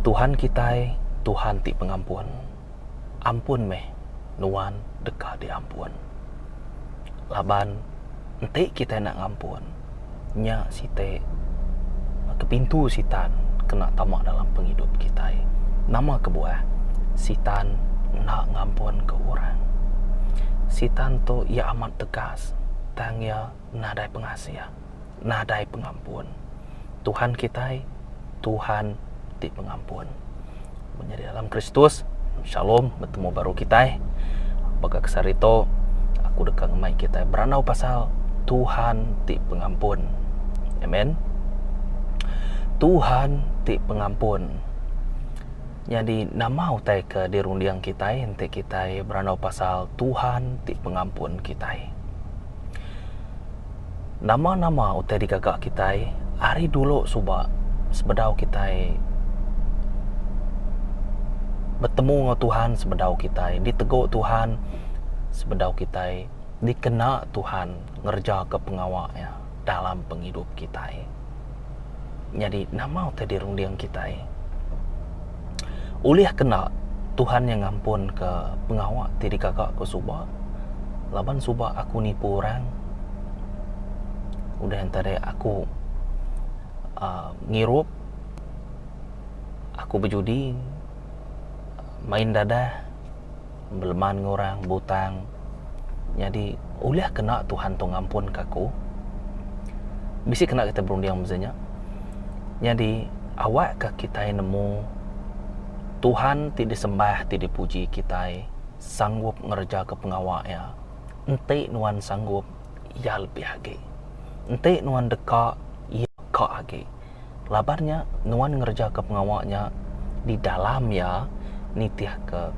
Tuhan kitai Tuhan ti pengampun, ampun meh nuan deka diampun. Laban enti kitai enda ngampun, nya siti ke pintu Sitan kena tama dalam pengidup kitai. Nama kebuah? Sitan enda ngampunka orang. Sitan tu iya amat tegas tang iya nadai pengasih. nadai pengampun. Tuhan kitai Tuhan ti pengampun. Mun nyadi dalam Kristus, Shalom betemu baru kitai. Baka ke sehari tu aku deka ngemai kitai berandau pasal Tuhan ti pengampun. Amen. Tuhan ti pengampun. Nyadi nama utai ke dirunding kitai enti kitai berandau pasal Tuhan ti pengampun kitai? Nama-nama utai digaga kitai ari dulu suba sebedau kitai betemu enggau Tuhan sebedau kitai ditegu Tuhan sebedau kitai dikena Tuhan ngereja ke pengawa iya dalam pengidup kitai. Nyadi nama utai dirunding kitai? Ulih kena Tuhan nya ngampunka pengawa ti digaga ku suba laban suba aku nipu orang udah enta deh aku aaa ngirup aku bejudi main dadah. Beleman ngurang butang. Nyadi, ulih kena Tuhan tu ngampunka aku? Bisi kena kitai berunding meza nya. Nyadi, awakka kitai nemu Tuhan ti disembah, ti dipuji kitai, sanggup ngerejaka pengawa Iya. Enti nuan sanggup, Iya lebih agi. Enti nuan deka, Iya ka agi. Laban nya, nuan ngerejaka pengawa nya di dalam iya nitihka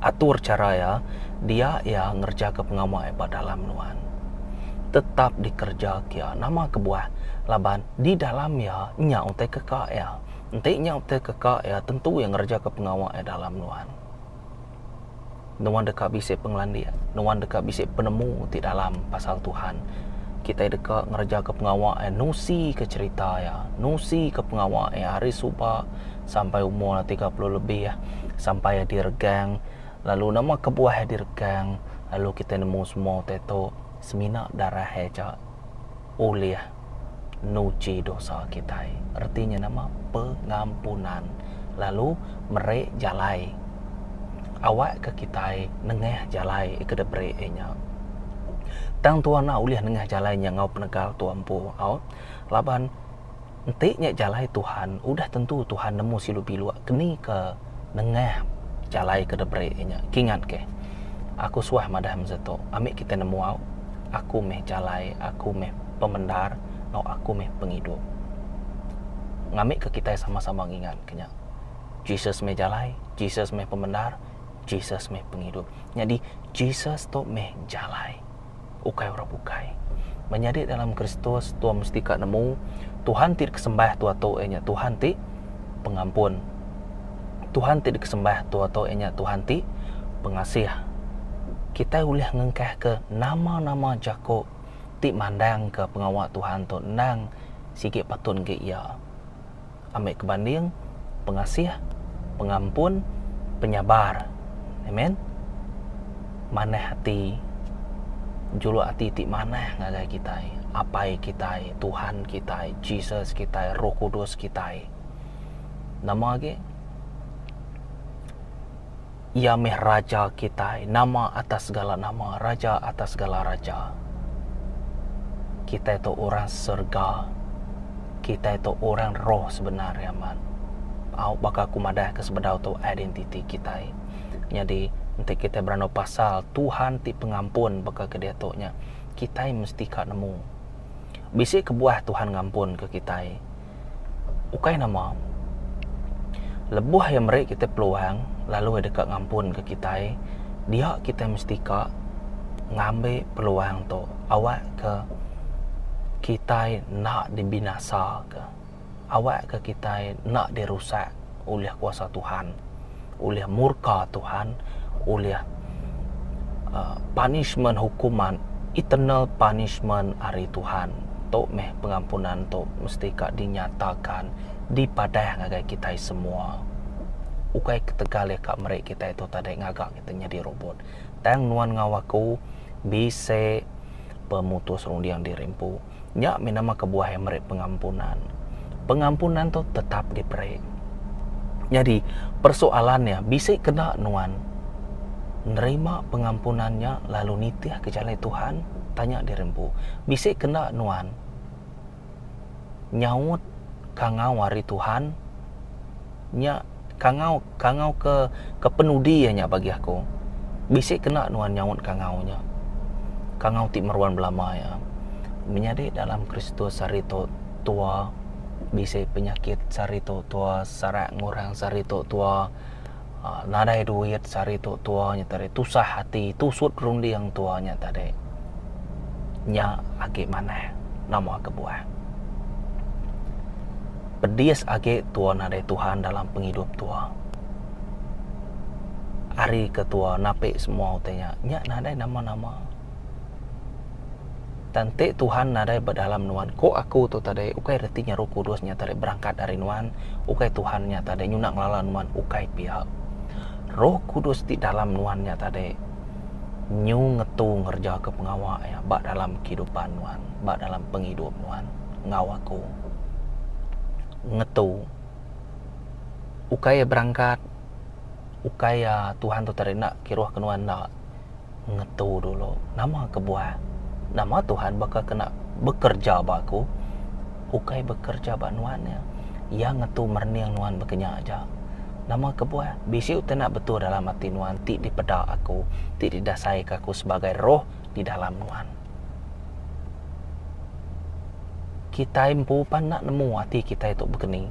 atur chara iya dia iya ngerejaka pengawa iya ba dalam nuan. Tetap dikerejaka iya nama kebuah laban di dalam iya nya utai keka iya. Enti nya utai keka iya tentu iya ngerejaka pengawa iya dalam nuan. Nuan deka bisi pengelandik. Nuan deka bisi penemu ti dalam pasal Tuhan. Kitai deka ngerejaka pengawa iya, nusika cherita iya, nusika pengawa iya ari suba sampai umur iya tiga puluh lebih sampai iya diregang lalu nama kebuah iya diregang lalu kitai nemu semua utai tu semina darah iya aja ulih. nuchi dosa kitai, reti nya nama pengampunan, lalu meri jalai awak ke kitai nengah jalai ke deh beri Iya nya. Tang Tuhan enda ulih nengah jalai nya enggau penegal tu empu au, laban enti nya jalai Tuhan udah tentu Tuhan nemu silu biluk keni ke. nengah jalai ke deberi inya kingat ke aku suah madah masa tu ami kita nemu au aku meh jalai aku meh pemendar enggau aku meh pengidup ngami ke kita sama-sama ngingat ke nya Jesus meh jalai Jesus meh pemendar Jesus meh pengidup nyadi Jesus tu meh jalai. ukai orang bukai. Menyadi dalam Kristus, tua mesti ka nemu Tuhan ti dikesembah tua-tua iya nya Tuhan ti pengampun. Tuhan ti dikesembah tua-tua iya nya Tuhan ti pengasih. Kitai ulih ngengkahka nama-nama jaku ti mandangka pengawa Tuhan tu endang sigi patut enggai iya. ambi kebanding, pengasih, pengampun, penyabar. Amen. Manah ati, juluk ati ti manah ngagai kitai, Apai kitai, Tuhan kitai, Jesus kitai, Roh Kudus kitai. Nama agi? Iya meh Raja kitai, nama atas segala nama, Raja atas segala raja. Kitai tu orang serega. Kitai tu orang roh sebenar iya amat. Au baka aku madahka sebedau tu identiti kitai. Nyadi enti kitai berandau pasal Tuhan ti pengampun baka ke diatu nya, kitai mesti ka nemu bisi kebuah Tuhan ngampunka kitai. ukai nama lebuh iya meri kita peluang lalu iya deka ngampun ka kitai dia kita mesti ka ngambi peluang tu awak ka kitai enda dibinasa ka awak ka kitai enda dirusak. ulih kuasa Tuhan, ulih murka Tuhan, ulih uh, punishment hukuman eternal punishment ari Tuhan. Tu meh pengampunan tu mesti ka dinyatakan dipadah ngagai kitai semua. Ukai ketegal iya ka meri kitai tu tadi ngaga kita nyadi robot. Tang nuan ngau aku bisi pemutus runding diri empu. Nya mih nama kebuah iya meri pengampunan. Pengampunan tu tetap diperi. Nyadi persoalan iya bisi kena nuan nerima pengampunan nya lalu nitihka jalai Tuhan? Tanya diri empu. Bisi kena nuan nyaut kangau ari Tuhan? Nya kangau kangau ke ke penudi iya nya bagi aku. Bisi kena nuan nyaut kangau nya. Kangau ti meruan belama iya. Menyadi dalam Kristus hari tu tua bisi penyakit ti hari tu tua serak ngurang ti hari tu tua aaa nadai duit ti hari tu tua nya tadi tusah ati tusut runding tua nya tadi. Nya agi manah nama kebuah. Pedis agi tua nadai Tuhan dalam pengidup tua. Ari ke tua napi semua utai nya, nya nadai nama-nama. Tang enti Tuhan nadai ba dalam nuan, ko aku tu tadi ukai reti nya Roh Kudus nya tadi berangkat ari nuan, ukai Tuhan nya tadi nyuna ngelala nuan ukai pia. Roh Kudus ti dalam nuan nya tadi nyu ngetu ngerejaka pengawa iya ba dalam kehidupan nuan, ba dalam pengidup nuan enggau aku. ngetu ukai iya berangkat ukai iya tuhan tu tadi enda kiruh ke nuan enda ngetu dulu nama kebuah nama tuhan baka kena bekerja ba aku ukai bekerja ba nuan iya iya ngetu merening nuan baka nya aja nama kebuah bisi utai enda betul dalam ati nuan ti dipeda aku ti didasai ka aku sebagai roh di dalam nuan. Kitai empu pan enda nemu ati kitai tu begeni.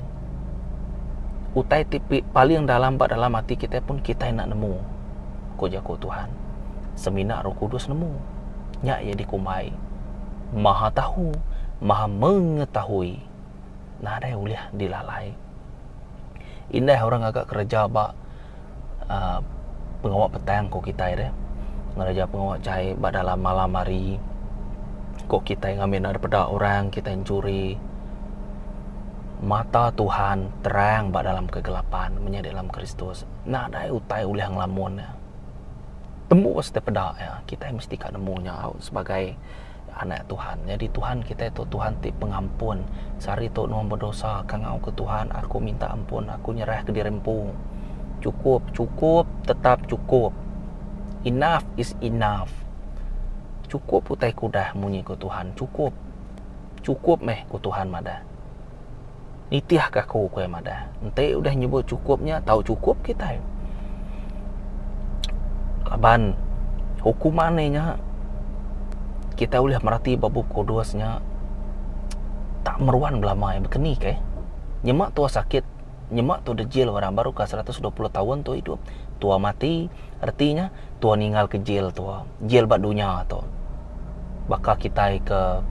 Utai ti paling dalam ba dalam ati kitai pun kitai enda nemu, ku jaku Tuhan. Semina roh kudus nemu, nya iya dikumbai, Mahatahu, Mahamengetahoi. nadai ulih dilalai. Indah orang ngaga kereja ba aaa pengawa petang ku kitai deh. Ngereja pengawa jai ba dalam malam hari ku kitai ngamin ari peda orang kitai enchuri. Mata Tuhan terang ba dalam kegelapan menyadi di dalam Kristus. Nadai utai ulih ngelamun ne. Tembu siti peda kitai mesti ka nemu nya sebagai Anak Tuhan. Nyadi Tuhan kitai tu Tuhan ti pengampun. Sehari tu nuan bedosa, kangau ke Tuhan, aku minta ampun, aku nyerah ke diri empu. Cukup, cukup, tetap cukup. Enough is enough. Cukup utai ku udah munyi ku Tuhan, cukup. Cukup meh ku Tuhan madah. Nitih ke aku ku iya madah. Enti udah nyebut chukup nya tau chukup kitai. Laban hukuman nya nya kitai ulih merati ba bup kudus nya tak meruan belama iya baka ni keh. Nyema tua sakit, nyema tua dejil orang baru ka seratus dua puluh taun tua idup, tua mati. Reti nya, tua ninggalka jil tua, jil ba dunya tu. Baka kitai ke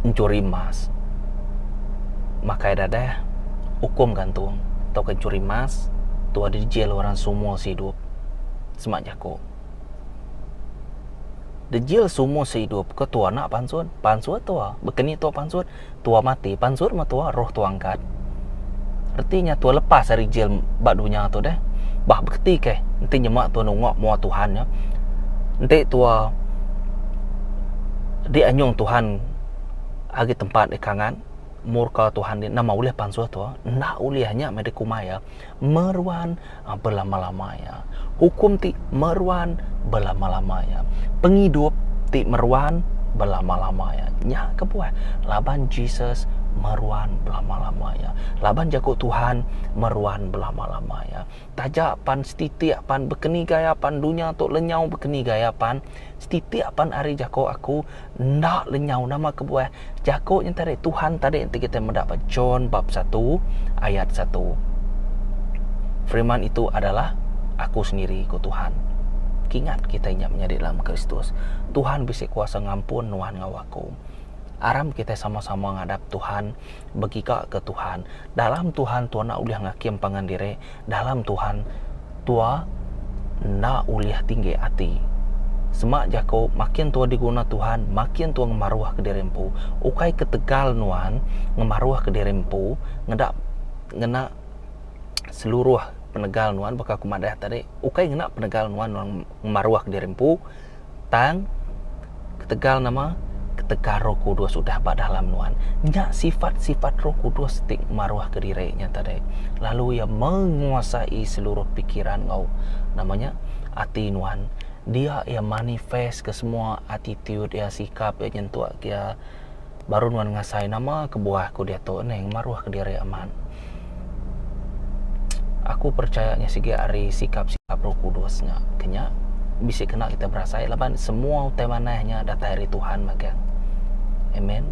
nchuri emas, makai dadah ukum gantung tauka nchuri emas, tua di jil orang seumur seidup. Sema jaku. Dijil seumur seidup ke tua enda pansut? Pansut tua. Baka ni tua pansut? Tua mati pan sut meh tua roh tua angkat. Reti nya tua lepas ari jil ba dunya tu deh. Bah beketi keh enti nyema tua nungok mua Tuhan nya. Enti tua di anyung Tuhan agi tempat di kangan murka Tuhan di nama ulih pansuh tua enda ulih nya meh dikumbai iya. meruan belama-lama iya. Hukum ti meruan belama-lama iya. Pengidup ti meruan belama-lama iya. Nya kebuah laban Jesus meruan belama-lama iya. Laban jaku Tuhan meruan belama-lama iya. Taja pan setitik pan bekeni gaya pan dunya tu lenyau bekeni gaya pan setitik pan ari jaku aku Enda lenyau nama kebuah jaku nyentari Tuhan tadi enti kitai meda ba John bab satu ayat satu. Firman itu adalah Aku sendiri, ku Tuhan. Kingat kitai nya menyadi dalam Kristus. Tuhan bisi kuasa ngampun nuan enggau aku. Aram kitai sama-sama ngadap Tuhan, begigaka Tuhan. Dalam Tuhan, Tuan enda ulih ngakim pangan diri, dalam Tuhan, tua enda ulih tinggi ati. Semak jaku, makin tua diguna Tuhan, makin tua ngemaruhka diri empu. Ukai ketegal nuan ngemaruhka diri empu ngeda ngena seluruh penegal nuan baka aku madah tadi, ukai ngena penegal nuan nuan ngemaruhka diri empu. Tang, ketegal nama? Ketegal Roh Kudus udah ba dalam nuan. Nya sifat-sifat Roh Kudus ti maruhka diri nya tadi. Lalu iya menguasai seluruh pikiran enggau nama nya ati nuan. Dia iya manifest ke semua attitude iya, sikap iya nyentuk iya. Baru nuan ngasai nama kebuah ku diatu ni ngemaruh ke diri amat. Aku percaya nya sigi ari sikap sikap roh kudus nya ke nya bisi kena kita berasai laban semua utai manah nya datai ari Tuhan magang. Amen.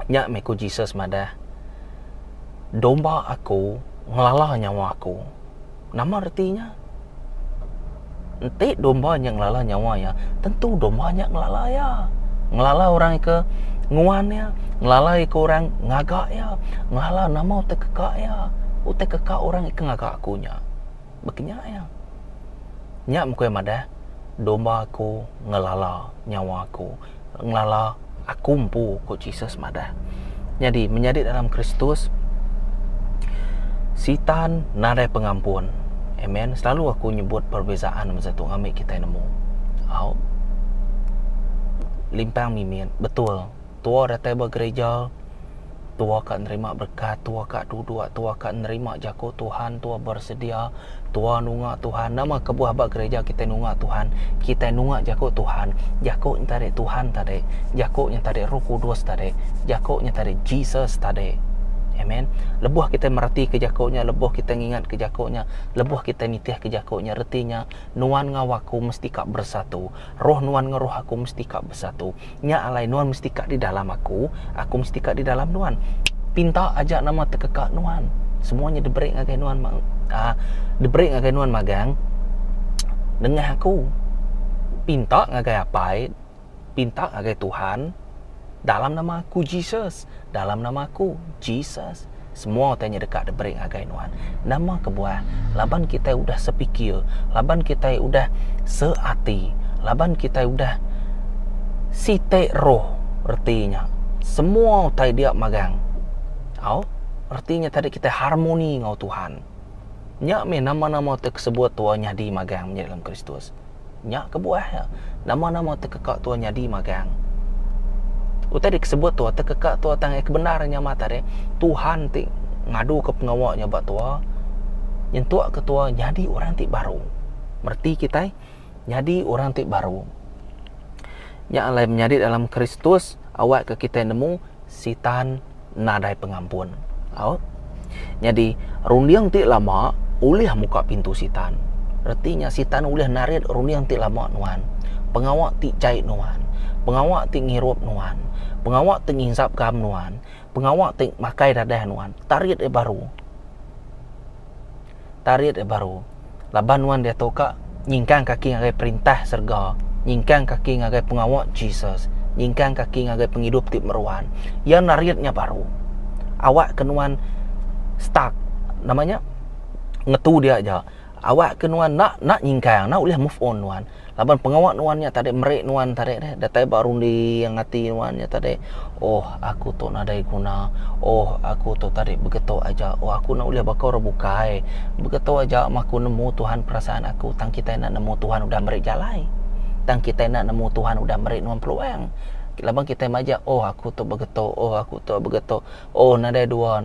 Nya meh ku Jesus madah domba aku ngelala nyawa aku. Nama reti nya? Enti domba nya ngelala nyawa iya, tentu domba nya ngelala iya. Ngelala orang ika nguan iya, ngelala ika orang ngaga iya, ngelala nama utai keka iya. Utai keka orang ika ngaga aku nya. Baka nya iya. Nya mung ku iya madah, Domba aku ngelala nyawa aku. ngelala aku empu, ku Jesus madah. Nyadi, menyadi dalam Kristus, Sitan nadai pengampun. Amen. Selalu aku nyebut perbezaan masa tu ngambi kitai nemu. Au. Limpang mimit. Betul. Tua datai ba gereja. Tua ka nerima berekat, tua ka duduk, tua ka nerima jaku Tuhan, tua bersedia, tua nunga Tuhan. Nama kebuah ba gereja kitai nunga Tuhan? Kitai nunga jaku Tuhan. Jaku nya tadi Tuhan tadi. Jaku nya tadi Roh Kudus tadi. Jaku nya tadi Jesus tadi. Amen. Lebuh kitai meretika jaku nya, lebuh kitai ngingatka jaku nya, lebuh kitai nitihka jaku nya, reti nya nuan enggau aku mesti ka bersatu. Roh nuan enggau roh aku mesti ka besatu. Nya alai nuan mesti ka di dalam aku, aku mesti ka di dalam nuan. Pinta aja nama tekeka nuan. Semua nya diberi ngagai nuan uh, diberi ngagai nuan magang nengah aku. Pinta ngagai Apai, pinta ngagai Tuhan. Dalam nama aku Jesus. Dalam nama aku Jesus. Semua tanya deka diberi ngagai nuan. Nama kebuah? Laban kitai udah sepikir, laban kitai udah seati, laban kitai udah siti roh. Reti nya semua utai dia magang. Au, reti nya tadi kitai harmoni enggau Tuhan. Nya meh nama-nama ti kesebut tua nyadi magang meh dalam Kristus. Nya kebuah iya, nama-nama tekeka tua nyadi magang. Utai dek sebut tua tekeka tua tang iya ke bendar nya mah tadi Tuhan ti ngaduka pengawa nya ba tua nyentukka tua nyadi orang ti baru. Mereti kitai nyadi orang ti baru. Nya alai menyadi dalam Kristus awakka kitai nemu Sitan nadai pengampun. Au. Nyadi, runding ti lama ulih muka pintu Sitan. Reti nya, Sitan ulih narit runding ti lama nuan, pengawa ti jai nuan, pengawa ti ngirup nuan, pengawa ti nginsap ke am nuan, pengawa ti makai dadah nuan, tarit iya baru. tarit iya baru. Laban nuan diatu ka nyingkang kaki ngagai perintah serega, nyingkang kaki ngagai pengawa Jesus, nyingkang kaki ngagai pengidup ti meruan. Iya narit nya baru. Awak ke nuan stuck nama nya ngetu dia aja. Awak ke nuan enda enda nyingkang enda ulih move on nuan. Laban pengawa nuan nya tadi meri nuan tadi deh datai ba runding ati nuan nya tadi oh aku tu nadai guna oh aku tu tadi begetu aja oh aku enda ulih baka orang bukai begetu aja meh aku nemu tuhan perasaan aku tang kitai enda nemu tuhan udah meri jalai tang kitai enda nemu tuhan udah meri nuan peluang laban kitai majak oh aku tu begetu oh aku tu begetu oh nadai dua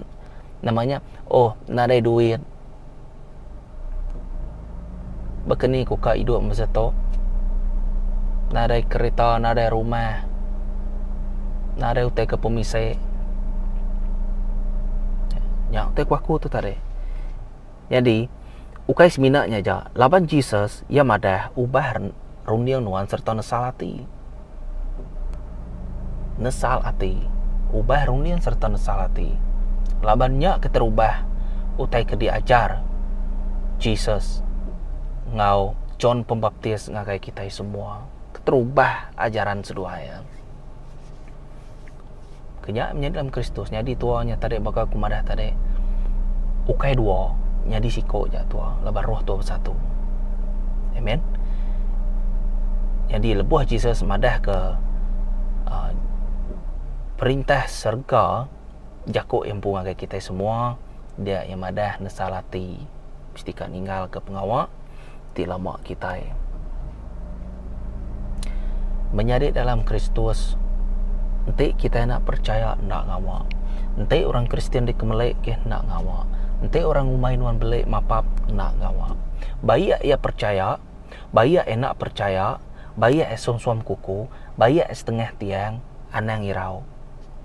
nama nya oh nadai duit. Baka ni ku ka idup masa tu. Nadai kereta, nadai rumah. Nadai utai ke pemisi. Nya utai ku aku tu tadi. Nyadi ukai semina nya aja laban Jesus iya madah ubah Runding nuan sereta nesal ati. Nesal ati. Ubah runding sereta nesal ati. Laban nya keterubah utai ke diajar Jesus ngau John Pembaptis ngagai kitai semua. Keterubah ajaran seduai. Ke nya menyadi dalam Kristus nyadi tua nya tadi baka aku madah tadi ukai dua nyadi siko ja tua laban roh tua besatu. Amen. Jadi lebuh Jesus madah ke uh, perintah serga jako empu ngagai kita semua dia yang madah nesal ati mesti ka ninggalka pengawa ti lama kitai. Menyadi dalam Kristus, enti kitai enda perechaya enda ngawa. Enti orang Kristian dikemelik ke enda ngawa. Enti orang umai nuan beli mapap enda ngawa. Ba iya iya perechaya, ba iya iya enda perechaya, ba iya iya suam-suam kuku, ba iya iya setengah tiang anang irau.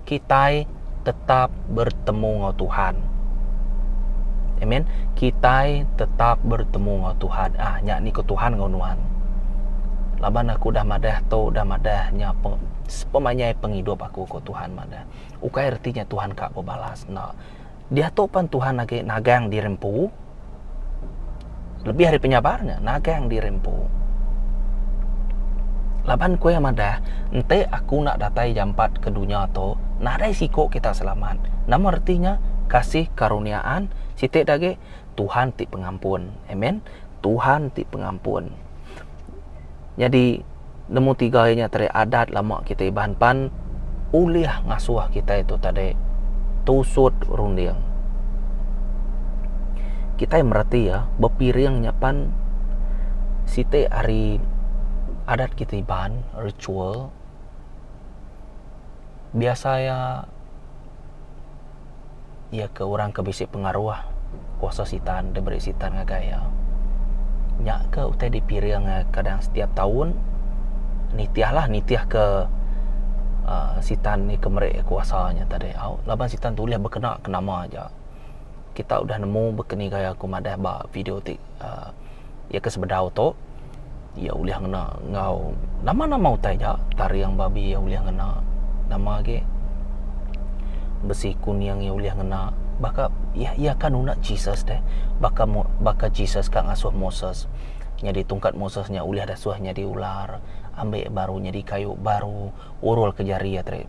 kitai tetap bertemu enggau Tuhan. Amen. Kitai tetap bertemu enggau Tuhan. Ah, nya ni ke Tuhan enggau nuan. Laban aku dah madah tu, dah madah nya sepemanjai pengidup aku ko Tuhan madah. Ukai reti nya Tuhan ka bebalas enda. Diatu pan Tuhan agi nagang diri empu. Lebih ari penyabar nya, nagang diri empu. Laban ku iya madah, Enti aku enda datai jampat ke dunya tu, nadai siku kita selamat. Nama reti nya? Kasih karuniaan siti agi, Tuhan ti pengampun. Amen. Tuhan ti pengampun. Nyadi nemu tiga iya nya tadi adat lama kita Iban pan ulih ngasuh kita itu tadi tusut runding. Kita mereti iya bepiring nya pan siti ari adat kita Iban ritual biasa iya iya ke orang ke bisi pengaruh kuasa sitan diberi sitan ngagai iya. Nya ke utai dipiring eh kadang setiap taun nitihlah nitih ke aaa sitan ni ke meri kuasa nya tadi au laban sitan tu ulih bekena ke nama aja. Kita udah nemu baka ni gaya aku madah ba video ti aaa iya ke sebedau tu. Iya ulih ngena enggau nama-nama utai ja taring babi iya ulih ngena nama agi besi kuning iya ulih ngena baka iya ka nuna Jesus deh baka baka Jesus ka ngasuh Moses nyadi tungkat Moses nya ulih disuh nyadi ular ambek baru nyadi kayu baru. Urul ke jari iya tadi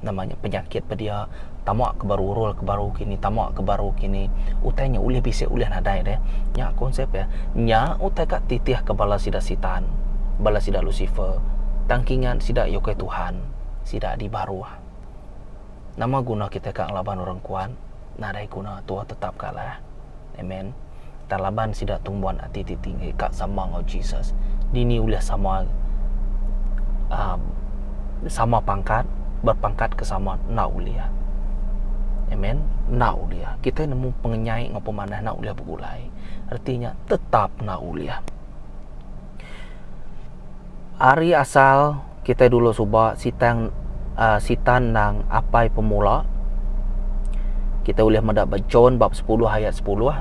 nama nya penyakit pe dia tama ke baru urul ke baru kini tama ke baru kini utai nya ulih bisi ulih nadai deh nya konsep iya nya utai ka titih ke bala sida sitan bala sida lusifer tang kingat sida iya ukai tuhan sida dibaruh nama guna kitai ka ngelaban orang kuat. nadai guna tua tetap kalah. Amen. Tang laban sida tumbuan ati ti tinggi ka sama enggau Jesus, dini ulih sama um, sama pangkat, berpangkat ke sama enda ulih. Amen. Enda ulih. Kita nemu pengenyai enggau pemanah enda ulih begulai. Reti nya tetap enda ulih. Ari asal kitai dulu suba sitan aaa sitan nang apai pemula kitai ulih meda ba John bab sepuluh ayat sepuluh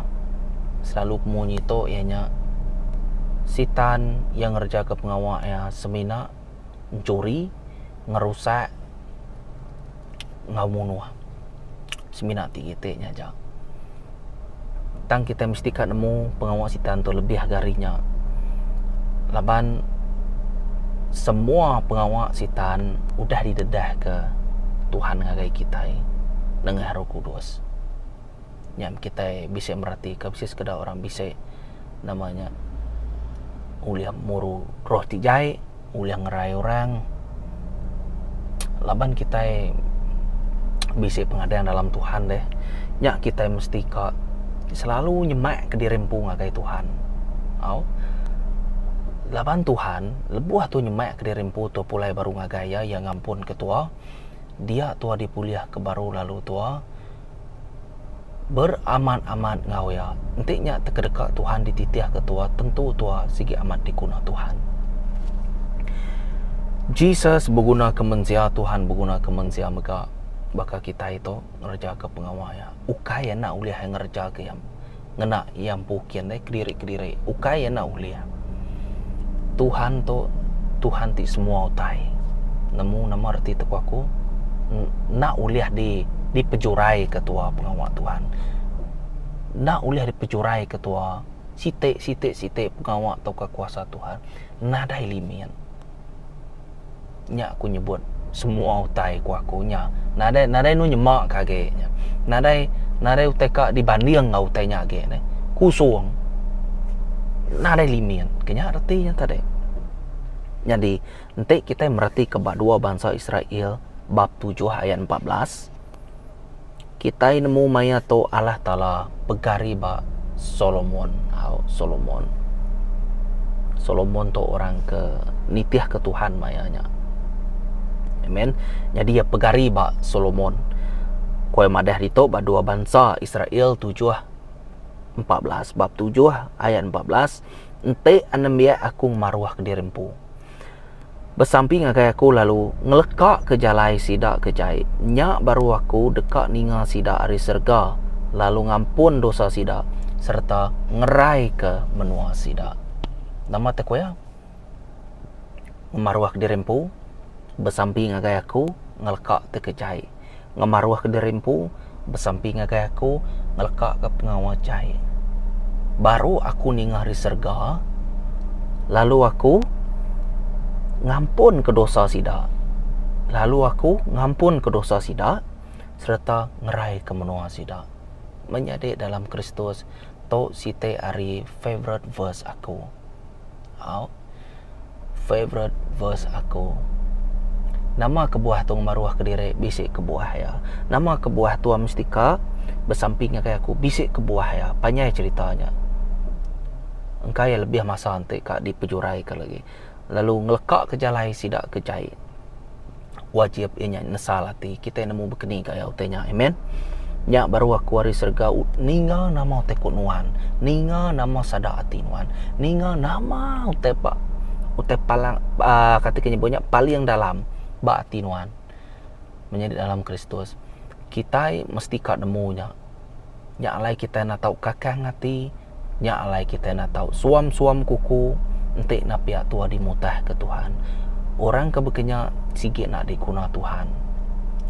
selalu ke munyi tu iya nya sitan yang ngereja ke pengawa iya semina enchuri, ngerusak. enggau munuh. Semina ati kite nya aja. Tang kite mesti ka nemu pengawa Sitan tu lebih ga ari nya. Laban semua pengawa Sitan udah didedahka Tuhan ngagai kitai nengah Roh Kudus. Nya men kitai bisi meratika bisi sekeda orang bisi nama nya ulih muru roh ti jai. ulih ngerai orang laban kitai bisi pengadang dalam Tuhan deh nya kitai mesti ka selalu nyemak ke diri empu ngagai Tuhan tau laban Tuhan lebuh tu nyemak ke diri empu tu pulai baru ngagai iya iya ngampunka tua dia tua dipulih ke baru lalu tua. beramat-amat enggau iya, enti nya tekedeka Tuhan dititihka tua, tentu tua sigi amat diguna Tuhan. Jesus begunaka mensia, Tuhan begunaka mensia mega baka kitai tu ngereja pengawa iya. Ukai iya enda ulih ngereja iya. ngena iya empu kin deh kediri-kediri. Ukai iya enda ulih. Tuhan tu Tuhan ti semua utai. Nemu nama reti tepu aku enda ulih di dipejurai ke tua pengawa Tuhan. Enda ulih dipejurai ke tua siti siti siti pengawa tauka kuasa Tuhan nadai limit. Nya aku nyebut semua utai ku aku nya nadai nadai anu nyema ka agi nya nadai nadai utai ka dibanding enggau utai nya agi ne kusung nadai limit ke nya reti nya tadi nyadi enti kitai meratika ba dua bansa Israel bab tujuh ayat empat belas Kitai nemu maya tu Allah Taala pegari ba Solomon. Au Solomon. Solomon tu orang ke nitihka Tuhan maya nya. Amen. Nyadi iya pegari ba Solomon. Kuai madah ditu ba dua bansa Israel tujuh empat belas. Bab tujuh ayat empat belas, Enti anembiak Aku ngemaruhka diri empu. Besampi ngagai aku lalu, ngelekaka jalai sida ke jai. Nya baru aku deka ninga sida ari serega, lalu ngampun dosa sida, sereta ngeraika menua sida. Nama te ku iya? Ngemaruh diri empu, besampi ngagai aku, ngelekaka te ke jai. ngemaruhka diri empu besampi ngagai aku ngelekaka pengawa jai. Baru aku ninga ari serega lalu aku ngampunka dosa sida lalu aku ngampunka dosa sida sereta ngeraika menua sida. Menyadi dalam Kristus tu siti ari favourite verse aku. Au. Favourite verse aku. Nama kebuah tu ngemaruh ke diri bisi kebuah iya. Nama kebuah tua mustika besamping ngagai aku bisi kebuah iya. Panjai cerita nya. Engka iya lebih masa enti ka dipejuraika lagi lalu ngeleka ke jalai sida ke jai. wajib iya nya nyesal ati kitai nemu bekeni gaya utai nya amen nya baru aku ari serega ninga nama utai ku nuan ninga nama sada ati nuan ninga nama utai pa utai palang aa kati ku nyebut nya paling dalam ba ati nuan menyadi dalam kristus kitai mesti ka nemu nya nya alai kitai enda tau kakang ati. Nya alai kitai enda tau suam-suam kuku enti napiak tua dimutahka Tuhan. Orang ke baka nya sigi enda diguna Tuhan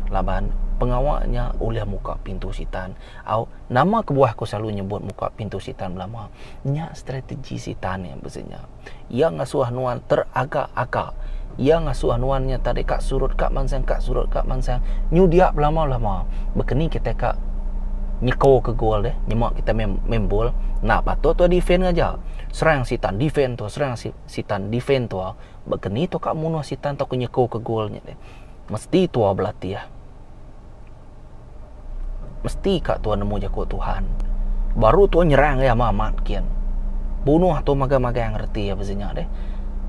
laban pengawa nya ulih muka pintu Sitan. Au, nama kebuah aku selalu nyebut muka pintu Sitan belama? Nya strategi Sitan nya bisi nya. Iya ngasuh nuan teraga-aga. Iya ngasuh nuan nya tadi ka surut ka mansang ka surut ka mansang nyudia belama-lama. Bekeni kitai ka nyekoka gol deh nyema kitai meh main bol enda patut tuah defend aja. Serang sitan defend tuah serang sitan defend tuah. Bekeni tuah ka munuh sitan tauka nyekoka gol nya deh. Mesti tuah belatih. Mesti ka tuan nemu jaku Tuhan. Baru tuan nyerang iya amat-amat kian. Bunuh tuan magang-magang reti iya pesinya deh.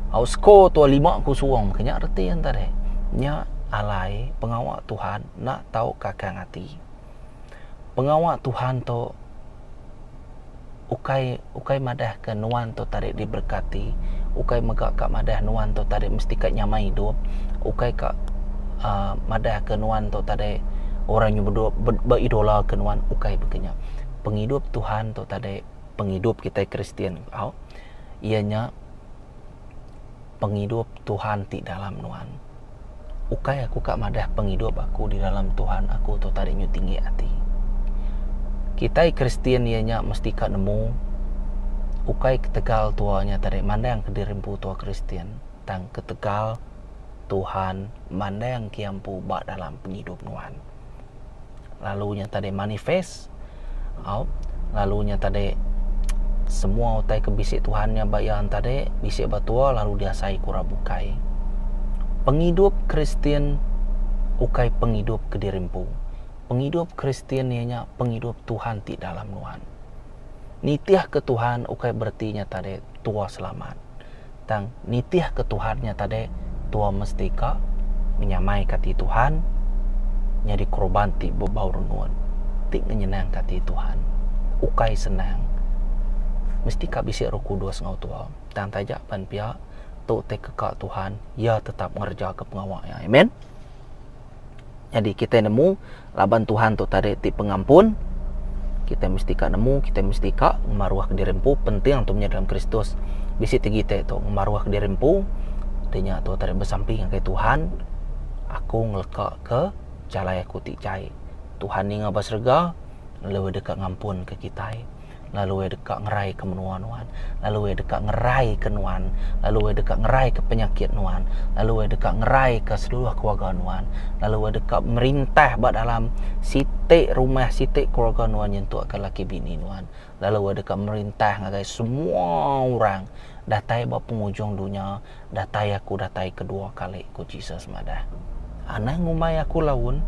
Au skor tuan 5-0 ke nya reti enta deh. Nya alai pengawa Tuhan enda tau kakang ati. Pengawa Tuhan tu. ukai ukai madah ke nuan tu tadi diberkati ukai mega ka madah nuan tu tadi mesti ka nyamai idup ukai ka uhh madah ke nuan tu tadi orang nyau bedok ba idola ke nuan ukai baka nya pengidup Tuhan tu tadi pengidup kitai Kristian au iya nya pengidup Tuhan ti dalam nuan. Ukai aku ka madah pengidup aku di dalam Tuhan aku tu tadi nyu tinggi ati. Kitai Kristian iya nya mesti ka nemu ukai ketegal tua nya tadi mandang ke diri empu tua Kristian tang ketegal Tuhan mandang ke iya empu ba dalam pengidup nuan. lalu nya tadi manifest au lalu nya tadi semua utai ke bisi Tuhan nya ba iya tadi bisi ba tua lalu diasai ku orang bukai. Pengidup Kristian ukai pengidup kediri empu. Pengidup Kristian iya nya pengidup Tuhan ti dalam nuan. Nitihka Tuhan ukai bereti nya tadi tua selamat. tang nitihka Tuhan nya tadi tua mesti ka menyamaika ati Tuhan nyadi korban ti bebau rengut ti ngenyenangka ati Tuhan. Ukai senang. Mesti ka bisi Roh Kudus enggau tua. Tang taja pan pia, tu utai keka Tuhan, Iya tetap ngerejaka pengawa Iya. Amen. Jadi kita nemu laban Tuhan tu tadi ti pengampun, kita mesti ka nemu, kita mesti ka ngemaruh ke diri empu penting tu nya dalam Kristus. Bisi tegi kita tu ngemaruh ke diri empu, ti nya tu tadi besampi ngagai Tuhan, aku ngeleka ke jalai aku ti jai. Tuhan ninga ba serega lalu deka ngampun ke kitai. lalu iya deka ngeraika menua nuan, lalu iya deka ngeraika nuan, lalu iya deka ngeraika penyakit nuan, lalu iya deka ngeraika seluruh keluarga nuan, lalu iya deka merintah ba dalam siti rumah, siti keluarga nuan nyentukka laki bini nuan, lalu iya deka merintah ngagai semua orang datai ba pengujung dunya. datai aku datai kedua kali, ku Jesus madah. Anang ngumbai aku laun,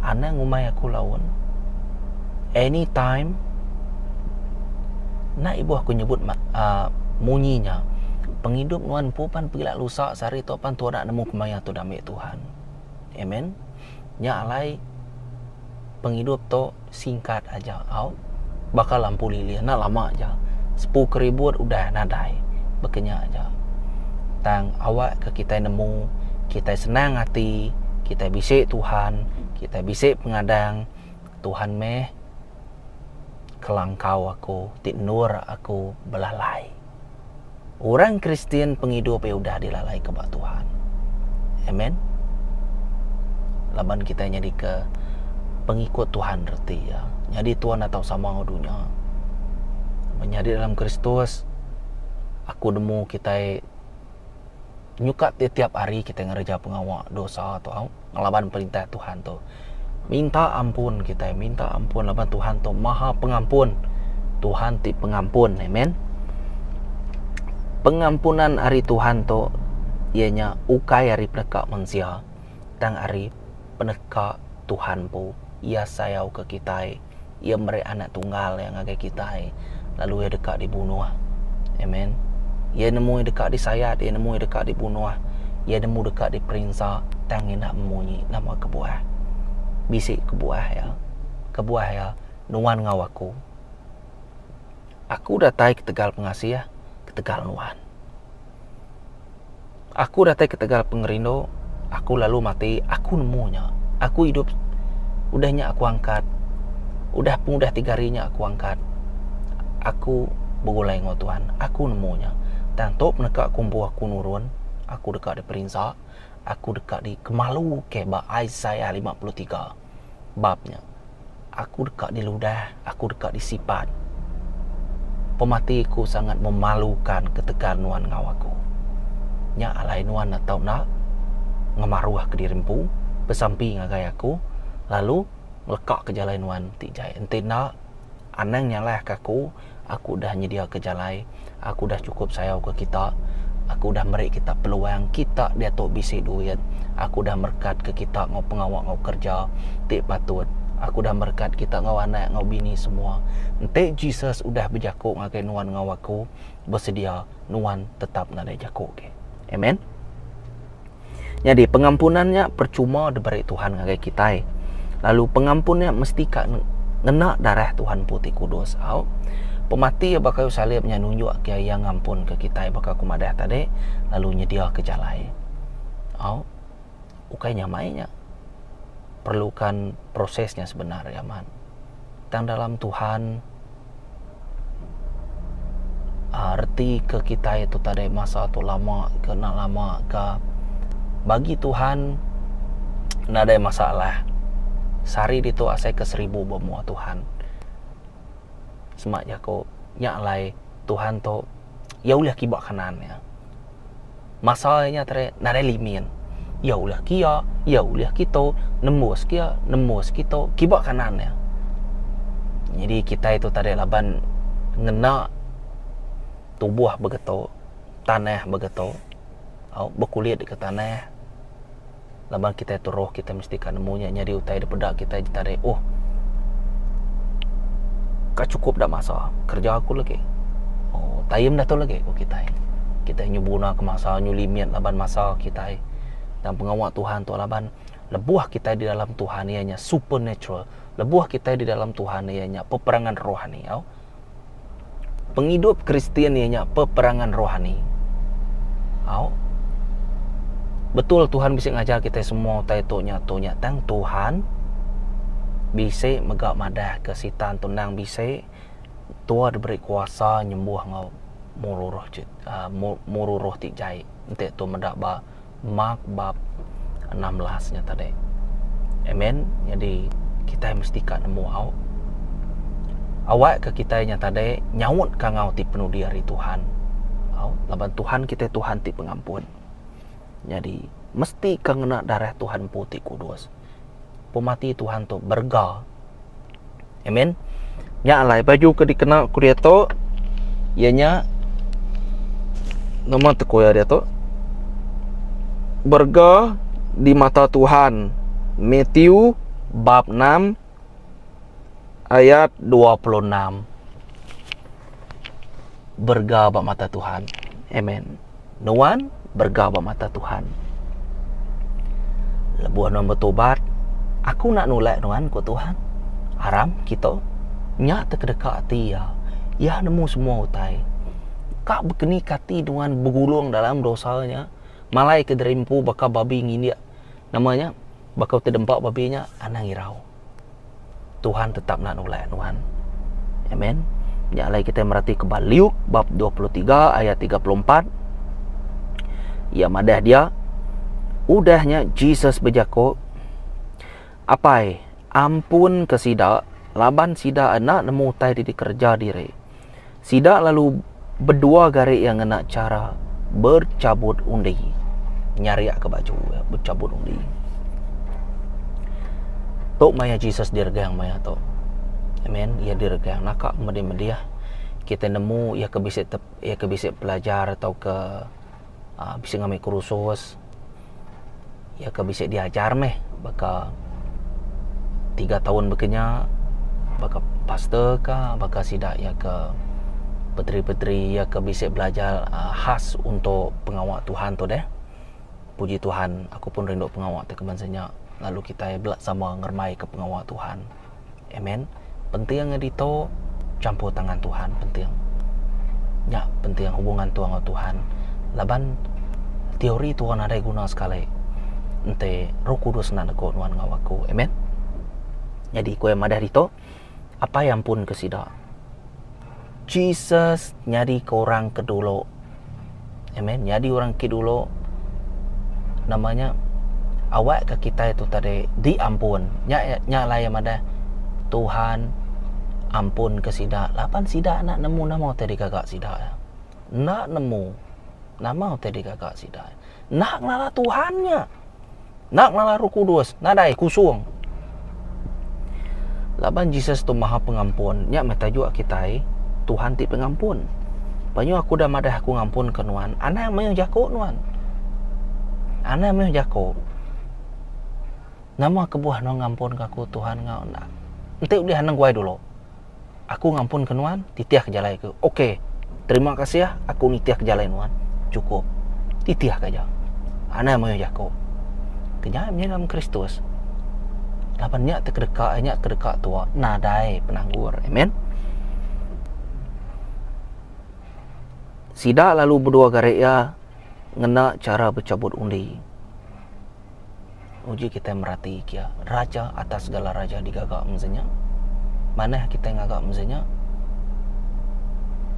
anang ngumbai aku laun, any time, enda ibuh aku nyebut a munyi nya, pengidup nuan empu pan pila lusa sehari tu pan tuan enda nemu kemaya tu dami Tuhan. Amen. Nya alai pengidup tu. Singkat aja au, baka lampu lilin enda lama aja sepu keribut udah nadai baka nya aja. Tang awak ke kitai nemu, kitai senang ati, kitai bisi Tuhan, kitai bisi pengadang, Tuhan meh kelangkau aku ti endur aku belalai. Orang Kristian pengidup iya udah dilalaika ba Tuhan. Amen. Laban kitai nyadika pengikut Tuhan reti iya. Nyadi tuan atau sama enggau dunya. Menyadi dalam Kristus aku nemu kitai nyuka tiap-tiap hari kitai ngereja pengawa dosa tu au ngelaban perintah Tuhan tu minta ampun kitai minta ampun laban Tuhan tu maha pengampun Tuhan ti pengampun amen pengampunan ari Tuhan tu iya nya ukai ari peneka mensia tang ari peneka Tuhan empu iya sayau ke kitai Iya meri Anak Tunggal Iya ngagai kitai, lalu Iya deka dibunuh. Amen. Iya nemu Iya deka disayat, Iya nemu Iya deka dibunuh, Iya nemu deka diperinsa, tang enda memunyi nama kebuah. Bisi kebuah Iya. Kebuah Iya, Nuan enggau aku. Aku datai ketegal pengasih, ketegal nuan. Aku datai ketegal pengerindu, aku lalu mati, aku nemu nya. Aku idup udah nya aku angkat, udah pengudah tiga hari nya aku angkat. Aku begulai enggau tuan, aku nemu nya. Tang tu peneka aku empu aku nurun, aku deka diperinsa, aku deka dikemalu ke ba Isaiah lima puluh tiga. bab nya. Aku deka diludah, aku deka disipat. Pemati aku sangat memalukan ketegal nuan enggau aku. Nya alai nuan enda tau enda ngemaruhka diri empu besampi ngagai aku lalu ngelekaka jalai nuan ti jai. Enti enda. Anang nyalahka aku, aku udah nyediaka jalai, aku udah chukup sayauka kita, aku udah meri kita peluang, kita diatu bisi duit, aku udah merekatka kita enggau pengawa enggau kereja ti patut, aku udah merekat kita enggau anak enggau bini semua. Enti Jesus udah bejaku ngagai nuan enggau aku, besedia nuan tetap nadai jaku agi. Amen. Nyadi, pengampunan nya percuma diberi Tuhan ngagai kitai. Lalu, pengampun nya mesti ka ngena darah Tuhan Empu ti Kudus. Au, pemati Iya ba kayu salib nya nunjukka Iya ngampunka kitai baka aku madah tadi, lalu nyediaka jalai. Au, ukai nyamai nya. Perlukan proses nya sebenar, Yaman. Tang dalam Tuhan. Reti ke kitai tu tadi masa tu lama ke enda lama ka bagi Tuhan nadai masalah sehari ditu asai ke seribu ba mua Tuhan sema jaku nya alai Tuhan tu iya ulih kiba kanan iya. Masa nya tadi nadai limin. Iya ulih kiya, iya ulih kitu, nembus kiya, nembus kitu, kiba kanan iya. Nyadi kitai tu tadi laban ngena tubuh begitu, tanah begitu, au bekulit ke tanah. laban kitai tu roh kitai mesti ka nemu nya nyadi utai dipeda kitai ditarik uh ka chukup da masa kerja aku lagi uh time da tu lagi ku kitai kitai nyu buna ka masa nyu limit laban masa kitai dalam pengawa tuhan tu laban lebuh kitai di dalam tuhan iya nya supernatural lebuh kitai di dalam tuhan iya nya peperangan rohani au. pengidup Kristian iya nya peperangan rohani. Au. Betul Tuhan bisi ngajar kita semua utai tu nya tu nya tang Tuhan bisi mega madahka Sitan tu endang bisi tua diberi kuasa nyembuh enggau muru roh ti jai enti tu meda ba Mark bab enam belas nya tadi. Amen. Nyadi kitai mesti ka nemu au. Awakka kitai nya tadi nyautka enggau ti penudi ari Tuhan. Au laban Tuhan kitai Tuhan ti pengampun. Nyadi mesti ka ngena darah Tuhan Empu ti Kudus. Pemati Tuhan tu berega. Amen. Nya alai baju ke dikena ku dia tu iya nya nama teku iya dia tu? Berga di mata Tuhan. Matthew bab 6 ayat 26. berega ba mata Tuhan. Amen. Nuan berega ba mata Tuhan. Lebuh nuan betubat, aku nak nulak nuan ku Tuhan. Aram kita nya te kedeka ati iya. Iya nemu semua utai. Ka bekeni ke ati nuan begulung dalam dosa nya, malai ke diri empu baka babi ngindik nama nya, baka ti dempa babi nya, anang irau. Tuhan tetap nak nulak nuan. Amen. Nya alai kita merati ke Luke bab 23 ayat 34. Ia madah dia udahnya Jesus bejako Apai, ampun ke sida laban sida enda nemu utai ti dikereja diri. Sida lalu bedua gari iya ngena chara berchabut undi. Nyariakka baju iya bechabut undi. Tu maya Jesus diregang maya tu. Amen. Iya diregang naka ke medih-medih kita nemu iya ke bisi iya ke bisi pelajar tauka bisi ngambi kursus. iya ke bisi diajar meh baka tiga taun bekenya baka pastor ka baka sida iya ke peteri-peteri iya ke bisi belajar khas untuk pengawa Tuhan tu deh. Puji Tuhan aku pun rindu pengawa tu keman senya lalu kitai bela sama ngerembai ka pengawa Tuhan. Amen. Penting nya ditu campur tangan Tuhan penting. Nya penting hubungan tu enggau Tuhan laban teori tu orang nadai guna sekali enti Roh Kudus enda negu nuan enggau aku. Amen. Jadi ku iya madah ditu, Apai ampunka sida. Jesus nyadika orang ke dulu. Amen. Nyadi orang ke dulu nama nya awak ke kitai tu tadi diampun. Nya nya alai iya madah Tuhan ampun ke sida laban sida enda nemu nama utai digaga sida. Enda nemu nama utai digaga sida. Enda ngelala Tuhan nya. Enda ngala Roh Kudus, nadai kusung. Laban Jesus tu Maha Pengampun, nya meh tajuk kitai, Tuhan ti Pengampun. Panyuh aku udah madah aku ngampunka nuan, anang mayuh jaku nuan. Anang mayuh jaku. Nama kebuah nuan ngampunka aku, Tuhan enggau enda? Enti ulih anang guai dulu. Aku ngampunka nuan, titihka jalai aku. Ok, terima kasih, aku nitihka jalai nuan. Chukup. Titihka aja. Anang mayuh jaku. Kenyai penyiram Kristus, laban nya ti kedeka iya, nya ti kedeka tuo, nadai penanggul. Amen. Sida lalu bedua gari iya ngena chara bechabut undi. Uji kitai merati kia, Raja atas segala raja digaga mensia nya. Manah kitai ngaga mensia nya,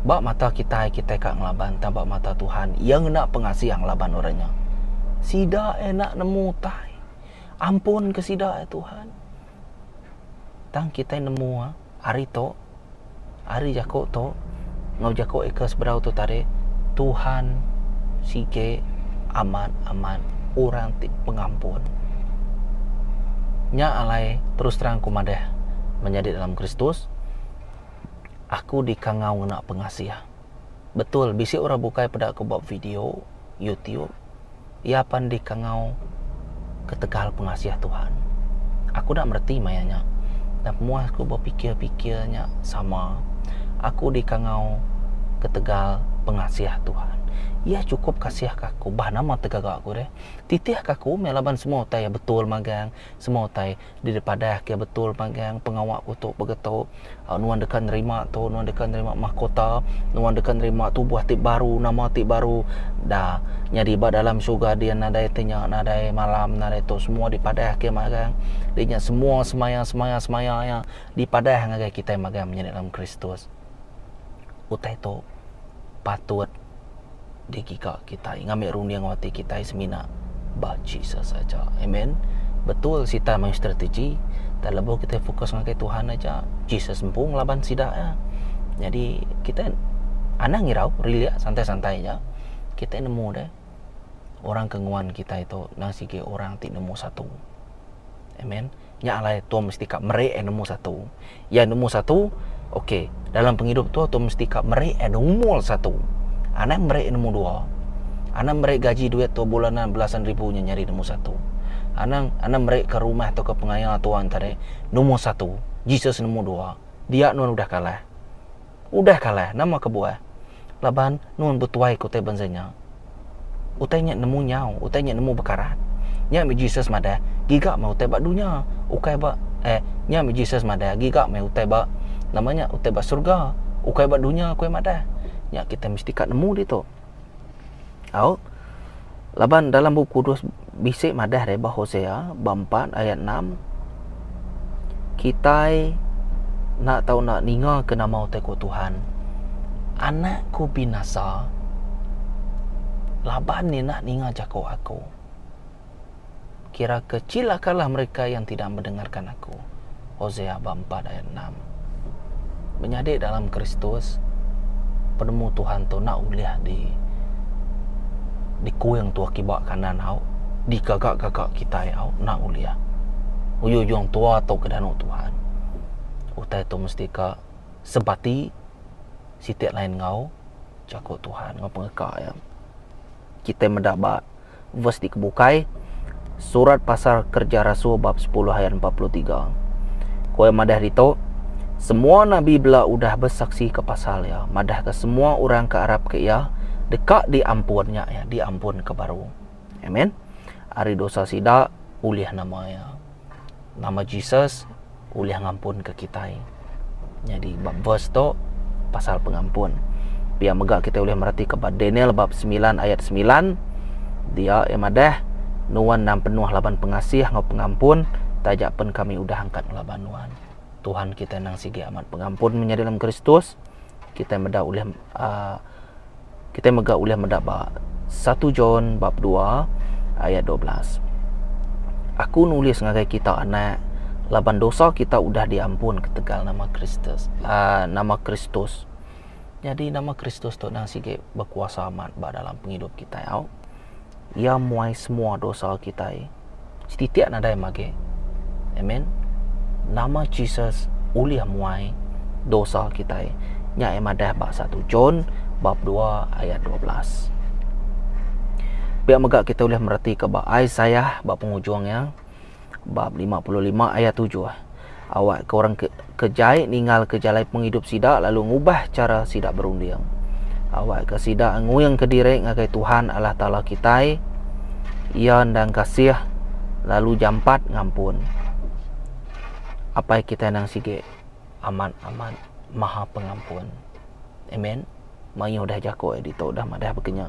ba mata kitai, kitai ka ngelaban, tang ba mata Tuhan, Iya ngena pengasih ngelaban orang nya. Sida enda nemu utai. Ampunka sida, ai Tuhan. Tang kitai nemu hari tu, hari jaku tu enggau jaku eka seberau tu tadi, Tuhan sigi amat amat orang ti pengampun. Nya alai terus terang aku madah mun nyadi dalam Kristus aku dikangau ngena pengasih. Betul bisi orang bukai peda aku ba video, youtube. Iya pan dikangau ketegal pengasih Tuhan. Aku enda mereti maya nya. Tang pemuah aku bepikir-pikir nya sama. Aku dikangau ketegal pengasih Tuhan. Iya chukup kasihka aku bah nama ti gaga aku deh. Titihka aku meh laban semua utai iya betul magang, semua utai. Di dipadah ke betul magang pengawa aku tu bagi tu nuan deka nerima tu nuan deka nerima mahkota nuan deka nerima tubuh ti baru nama ti baru da nyadi ba dalam syurga dian nadai ti nya nadai malam nadai tu semua dipadah ke magang di nya semua semaya semaya semaya iya dipadah ngagai kitai magang menyadi dalam kristus. utai tu patut digiga kitai ngambi runding ati kitai semina ba Jesus aja. Amen. Betul Sitan main strategi tang lebuh kitai fokus ngagai Tuhan aja, Jesus empu ngelaban sida ya. Nyadi kitai anang irau relax santai-santai aja. Kitai nemu deh orang ke nguan kitai tu enda sigi orang ti nombor satu. Amen. nya alai tau mesti ka meri eh nombor satu, iya nombor satu ok dalam pengidup tu tau mesti ka meri eh nombor satu anang meri eh nombor dua anang meri gaji duit tau bulanan belasan ribu nya nyadi nombor satu anang anang meri ka rumah tau ka pengaya tau tadi nombor satu Jesus nombor dua dia nuan udah kalah. Udah kalah, nama kebuah? Laban nun betuai ke utai bansa nya. Utai nya nemu nyau, utai nya nemu bekarat. Nya meh Jesus madah, giga meh utai ba dunya, ukai ba eh nya meh Jesus madah, giga meh utai ba nama nya utai ba surga, ukai ba dunya, ku iya madah. Nya kitai mesti ka nemu ditu. Au. Laban dalam Bup Kudus bisi madah deh ba Hosea bab empat ayat enam, Kitai enda tau enda ningaka nama utai ku Tuhan. Anak ku binasa laban iya enda ninga jaku aku. Kira ke cilakalah mereka yang tidak mendengarkan Aku. Hosea bab empat ayat enam. Menyadi dalam Kristus, penemu Tuhan tu enda ulih di dikuing tua kiba kanan au digaga-gaga kitai au enda ulih. Uyu-uyung tua tu ke danu Tuhan. Utai tu mesti ka sebati siti lain enggau jaku Tuhan enggau pengeka iya. Kitai meda ba Verse dikebukai, Surat pasal Kerja Rasul bab sepuluh ayat empat puluh tiga. Ku iya madah ditu, Semua nabi bela udah besaksi ke pasal iya, madah ke semua orang ke arap ke iya, deka diampun nya iya, diampun ke baru. Amen. Ari dosa sida, ulih nama iya. nama Jesus ulih ngampunka kitai. Nyadi ba verse tu pasal pengampun. Pia mega kitai ulih meratika ba Daniel bab 9 ayat 9 dia eh madah nuan endang penuh laban pengasih enggau pengampun taja pen kami udah angkat ngelaba nuan. Tuhan kitai endang sigi amat pengampun menyadi dalam Kristus. Kitai meda ulih uh, Kitai mega ulih meda ba satu John bab dua ayat dua belas. Aku nulis ngagai kita anak laban dosa kita udah diampun ketegal nama Kristus. Uh, nama Kristus. Jadi nama Kristus tu nang sigi bekuasa amat ba dalam pengidup kitai au. Iya muai semua dosa kitai setitik nadai magi. Amen. Nama Jesus ulih muai dosa kitai. Nya iya madah ba satu John bab dua ayat dua belas. Pia mega kitai ulih meretika ba Isaiah ba pengujung iya. bab lima puluh lima ayat tujuh. Awakka orang ke, ke jai ninggalka jalai pengidup sida lalu ngubah chara sida berunding. Awakka sida nguingka diri ngagai Tuhan Allah Taala kitai. Iya endang kasih lalu jampat ngampun. Apai kitai endang sigi amat-amat maha pengampun. Amen. mayuh dah jaku iya ditu dah madah baka nya.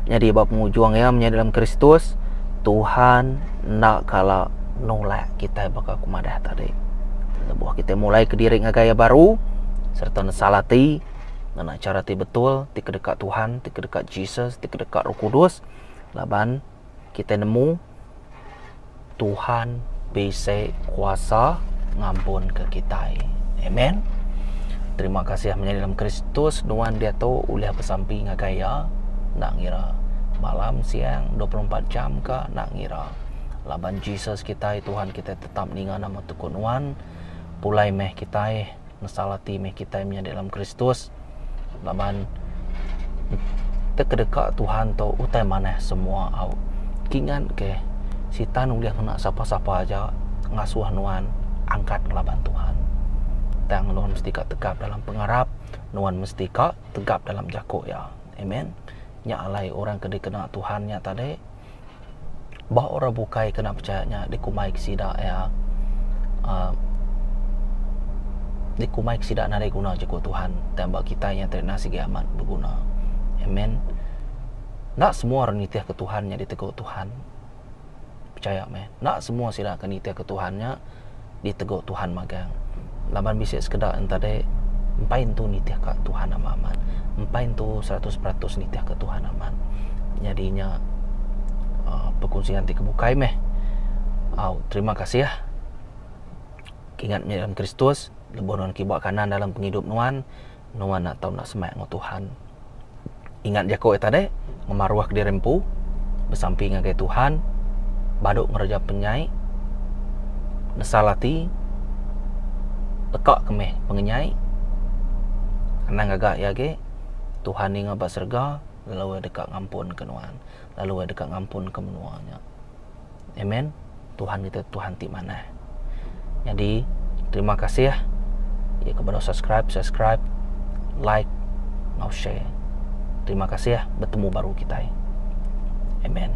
Nyadi ba pengujung iya menyadi dalam Kristus, Tuhan enda kala nulak kita baka aku madah tadi. Lebuh kita mulai kediri ngagai iya baru sereta nesal ati ngena chara ti betul ti kedeka Tuhan, ti kedeka Jesus, ti kedeka Roh Kudus laban Kitai nemu Tuhan bisi kuasa ngampunka kitai. Amen. Terima kasih menyadi dalam Kristus nuan diatu ulih besampi ngagai iya enda ngira malam siang 24 jam ka enda ngira. Laban Jesus kitai Tuhan kitai tetap ninga nama tu ku nuan pulai meh kitai. mesal ati meh kitai menyadi dalam Kristus laban te kedeka Tuhan tu utai manah semua au kingat ke sitan ulih ngena sapa-sapa aja ngasuh nuan angkat ngelaban Tuhan tang nuan mesti ka tegap dalam pengarap nuan mesti ka tegap dalam jako iya amen nya alai orang ke dikena Tuhan nya tadi. ba orang bukai kena pechaya nya dikumbai ke sida iya a dikumbai ke sida nadai guna jaku Tuhan tang ba kitai nya tadi enda sigi amat beguna. Amen. Enda semua orang nitihka Tuhan nya ditegur Tuhan. Pechaya meh, enda semua sida ke nitihka Tuhan nya ditegu Tuhan magang. Laban bisi sekeda enta deh empai entu nitih ka Tuhan amat amat. Empai entu seratus peratus nitih ka Tuhan amat. Nyadi nya uh, perkongsian ti kebukai meh. Au, terima kasih. Kingat meh dalam Kristus, lebuh nuan kiba kanan dalam pengidup nuan, Nuan enda tau enda semak enggau Tuhan. Ingat jaku iya tadi, ngemaruhka diri empu, besampi ngagai Tuhan, badu ngereja penyai, nesal ati, leka ke meh pengenyai. Anang ngaga iya agi, Tuhan ninga ba serega lalu Iya deka ngampunka nuan, lalu Iya deka ngampunka menua nya. Amen. Tuhan kita Tuhan ti manah. Jadi terima kasih ya kepada subscribe, subscribe, like, ngau share. Terima kasih bertemu baru kita. Amen.